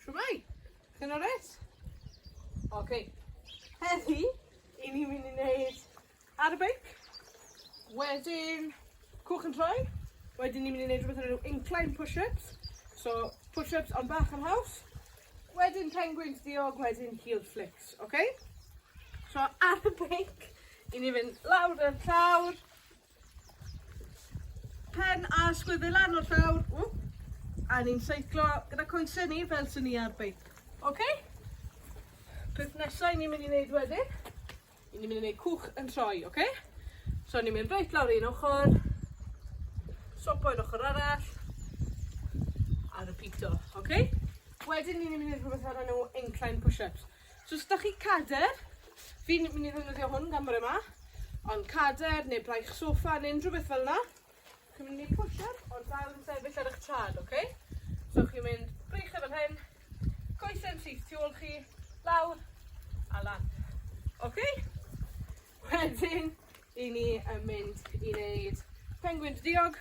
Shwmae! Chi'n alright? Oce. Heddi, 'yn ni mynd i neud ar y beic, wedyn cwch yn troi, wedyn ni mynd i neud rwbeth o'r enw incline push-ups, so push-ups ond bach yn haws, wedyn penguins diog, wedyn heel flicks, oce? So ar y beic, 'yn ni mynd lawr y llawr, Pen a sgwydde lan o'r llawr. Ww. A ni'n seiclo gyda coesau ni fel sy'n ni ar beic. OK? Peth nesau ni'n mynd i wneud wedyn, i ni'n mynd i wneud cwch yn troi, OK? So ni'n mynd reit lawr un ochr, sopo i'r ochr arall, a repeato, OK? Wedyn ni'n mynd i wneud rhywbeth ar enw incline push-ups. So os da chi cader, fi'n mynd i ddefnyddio hwn gan bod yma, ond cader neu braich sofa neu unrhyw beth fel yna, chi'n mynd i pwysio ond dal yn sefyll ar eich traed, oce? Okay? So chi'n mynd braich e fel hyn, coesau'n syth tu ôl chi, lawr a lan. Oce? Okay? Wedyn, i ni yn mynd i wneud penguin dy diog.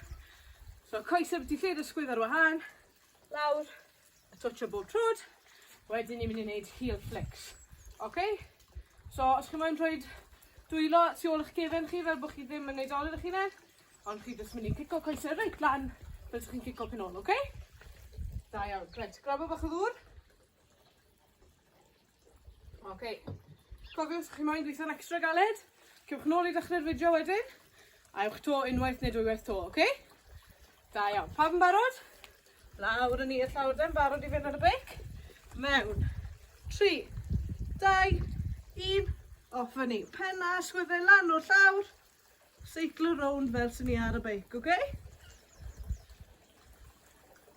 So coesau byti lle dysgwydd ar wahân, lawr, a twtsio bob trod, wedyn ni'n mynd i wneud heel flicks. OK? So, os chi moyn rhoi dwylo tu ôl eich gefen chi fel bod chi ddim yn neud olwyd eich hunain, ond chi jyst mynd i cico coesau reit lan fel ydych chi'n cico pen ôl, OK? Da iawn. Right, grabo bach o ddŵr. Oce, cofiwch os chi moyn gweithio'n extra galed, cewch nôl i ddechrau'r fideo wedyn, a ewch to unwaith neu dwywaith to, oce? Da iawn, pawb yn barod? Lawr yn i'r llawr den, barod i fynd ar y beic? Mewn. 3, 2, 1, off yn ni. Penna, sgwyddau lan o'r llawr, seiclo rownd fel sy'n ni ar y beic, oce? Okay?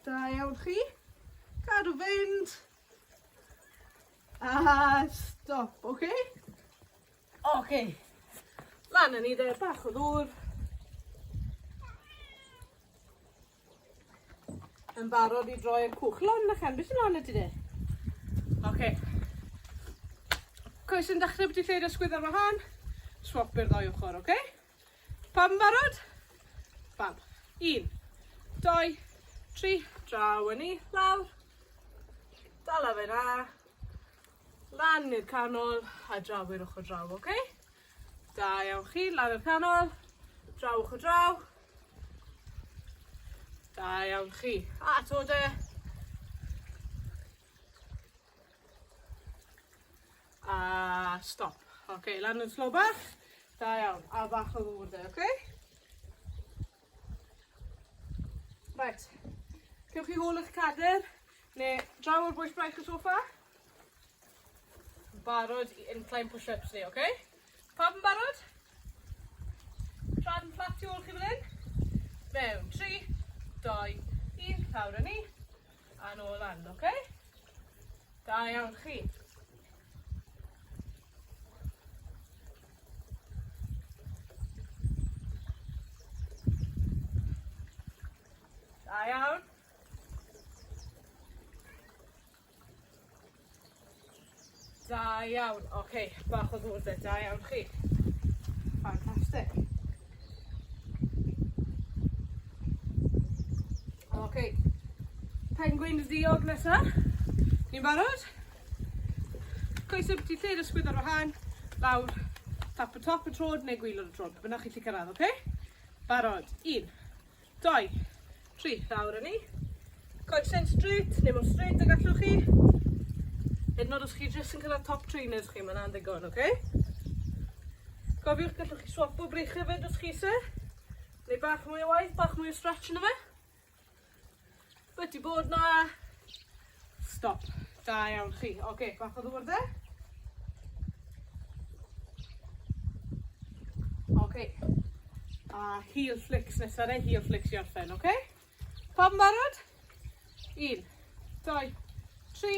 Da iawn chi. Cadw fynd. A stop, oce? Oce. Lan â ni de, bach o ddŵr. Yn barod i droi'r cwch. Lan na chan, beth sy'n lan ydy de? Oce. Coes yn dechrau bod ti'n lleid ysgwydd ar wahân. Swap i'r ddoi ochr, oce? Okay? Pawb yn barod? Fab. Un, doi, tri, draw yn ni, lawr. Dala fe na. Lan i'r canol a draw i'r ochr draw, oce? Okay? Da iawn chi, lan i'r canol, draw ochr draw. Da iawn chi. A to de. A stop. Oce, okay, lan yn slo bach. Da iawn. A bach o ddŵr dde, oce? Okay? Right. Cewch chi hôl eich cadr, neu draw o'r bwys braich y sofa. Barod i incline push-ups ni, oce? Okay? Pawb yn barod? Traed yn fflat tu ôl chi fel hyn. Mewn, 3, 2, 1, llawr â ni. A nôl lan, oce? Okay? Da iawn chi. Da iawn. Da iawn. Oce, bach o ddŵr 'de. Da iawn chi. Ffantastic. Oce. Penguin ddiog nesa. Ni'n barod? Coesau byti lle yn ysgwyd ar wahân. Lawr. Tap y top y trod neu gwylod y trod. Be bynnag chi 'llu cyrraedd, oce? Barod. Un. Doi. Tri. Lawr â ni. Coesyn straight, neu mor straight ag allwch chi. Hyd yn oed os chi jyst yn cyrraedd top trainers chi, mae'n andigon, oce? Okay? Cofiwch, gallwch chi swapo brych hefyd os chi se. Neu bach mwy o waith, bach mwy o stretch yn y fe. Wedi bod 'na. Stop. Da iawn chi. Oce, okay, bach o ddŵr dde. Oce. Okay. A heel flicks nesa neu heel flicks i orffen, oce? Okay? Pawb yn barod? Un, doi, tri,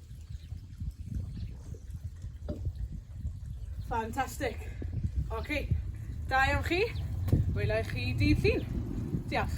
Fantastic. Oce. Da iawn chi. Wela i chi dydd Llun. Diolch.